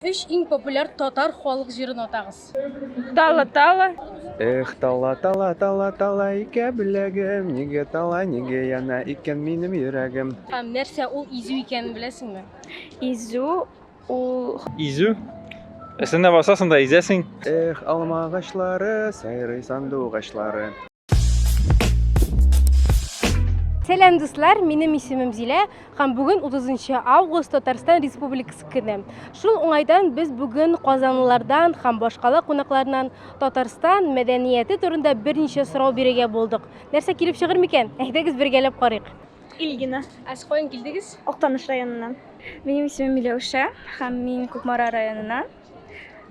Өч иң популяр татар халык җырын атагыз. Тала, тала. Эх, тала, тала, тала, тала икә беләгем, нигә тала, нигә яна икән минем йөрәгем. Һәм нәрсә ул изү икәнен беләсеңме? Изү ул... Изү? Өстенә басасың да изәсең. Эх, алма агачлары, сайрый сандугачлары. Сәлам дуслар, минем исемем Зилә һәм бүген 30 август Татарстан Республикасы көне. Шул уңайдан без бүген казанлылардан һәм башкала кунакларынан Татарстан мәдәнияте турында берничә сорау бирергә булдык. Нәрсә килеп чыгыр микән? Әйдәгез бергәләп карыйк. Ильгина, ә сез каян килдегез? Актаныш районыннан. Минем исемем Миләүшә һәм мин Кукмара районыннан.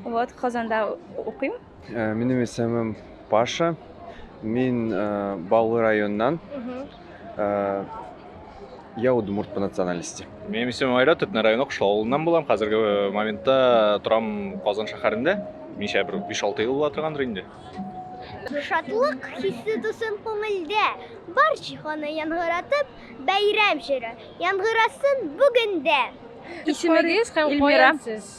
Вот, Казанда укыйм. Э, минем исемем Паша. Мин э, Баулы районнан. Э, я удмурт по национальности. Минем исемем Айрат, Төтне районы Кышлау авылыннан булам. Хәзерге э, моментта торам Казан шәһәрендә. Ничә бер 5-6 ел була торгандыр инде. Шатлык хисе тусын күңелдә, бар җиһаны яңгыратып, бәйрәм җыры яңгырасын бүгендә. Исемегез һәм каян сез?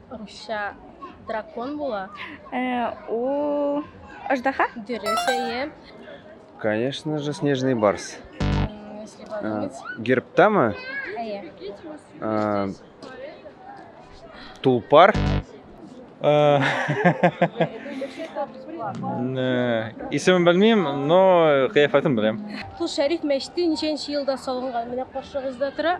Русча дракон була. Э, ул аждаһа? Дөрес, әйе. Конечно же, снежный барс. М, Если Э, подумать. Герптама, Әйе. э, тулпар, Э, э, Исемен белмим, но кыяфәтен беләм. Кул Шәриф мәчете ничәнче елда салынган? Менә каршыгызда тора.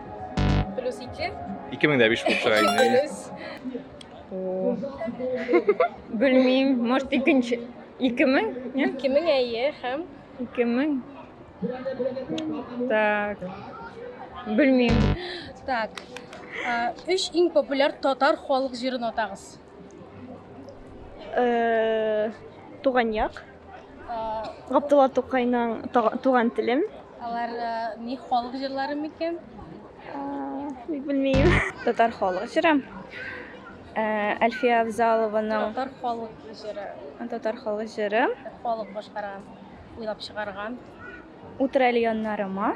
Плюс ике. Ике мең дә биш булып чыга инде. Плюс. Белмим, может икенче. Ике мең? Ике мең әйе һәм. Ике мең. Так. Белмим. Так. Үш иң популяр татар халык җырын атагыз. Э, Туган як. Габдулла Тукайның Туган телем. Алар ни халык җырлары микән? Ник белмим. Татар халык җыры. Әлфия Авзалованың Татар халык җыры. Татар халык җыры. Халык башкарган, уйлап чыгарган. Утыр әле яннарыма.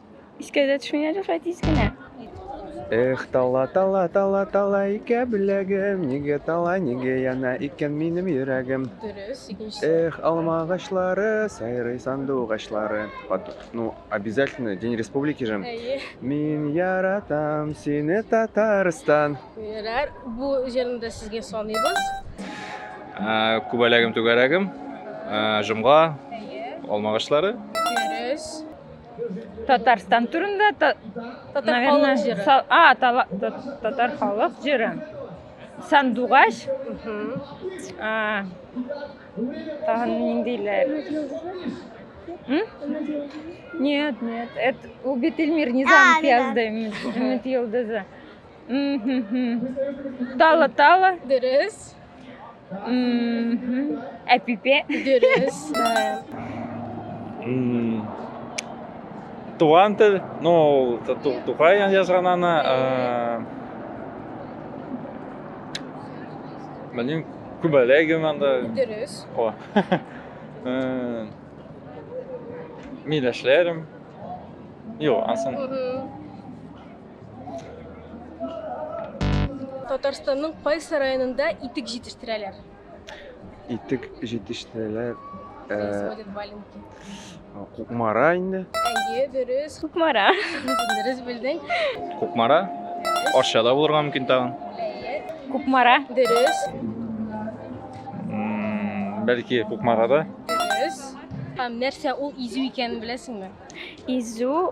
Искә дә төшми әле шулай тиз генә. Эх, тала, тала, тала, тала икә беләгем, нигә тала, нигә яна икән минем йөрәгем. Дөрес, икенчесе. Эх, алма агачлары, сайрый сандугачлары. Под- Ну, обязательно, День Республики же. Әйе. Мин яратам сине, Татарстан. Күңелләр, бу җырны да сезгә саныйбыз. Ә, Күбәләгем түгәрәгем, ә, җомга, алмагачлары. Татарстан турында та, Татар наверное, халык җыры. са- а, тала- та- татар халык җыры. Сандугач, Мгм. а, тагын ниндиләр? М? Нет, нет, это Убит Эльмир Низам А, да-да. Пиязда Өмет Йолдызы. Тала тала. Дөрес. Әпипе. Дөрес. Туган тел, ну, Тухай язган аны. Белмим, күбәләгем анда. Дөрес. О. Миләшләрем. Юк, ансын. Татарстанның кайсы районында итек җитештерәләр? Итек җитештерәләр. Происходит валенки. Кукмара инде. Әйе, дөрес. Кукмара. Дөрес белдең. Кукмара. Арчада булырга мөмкин тагын. Әйе. Кукмара. Дөрес. Бәлки Кукмарада. Дөрес. Һәм нәрсә ул изү икәнен беләсеңме? Изү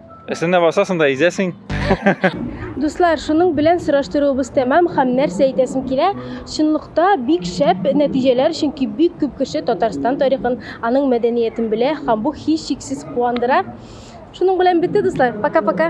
Эсенә басасың да изәсең. Дуслар, шуның белән сораштыруыбыз тәмам һәм нәрсә әйтәсем килә? Чынлыкта бик шәп нәтиҗәләр, чөнки бик күп кеше Татарстан тарихын, аның мәдәниятен белә һәм бу һич шиксез куандыра. Шуның белән бетте, дуслар. Пока-пока.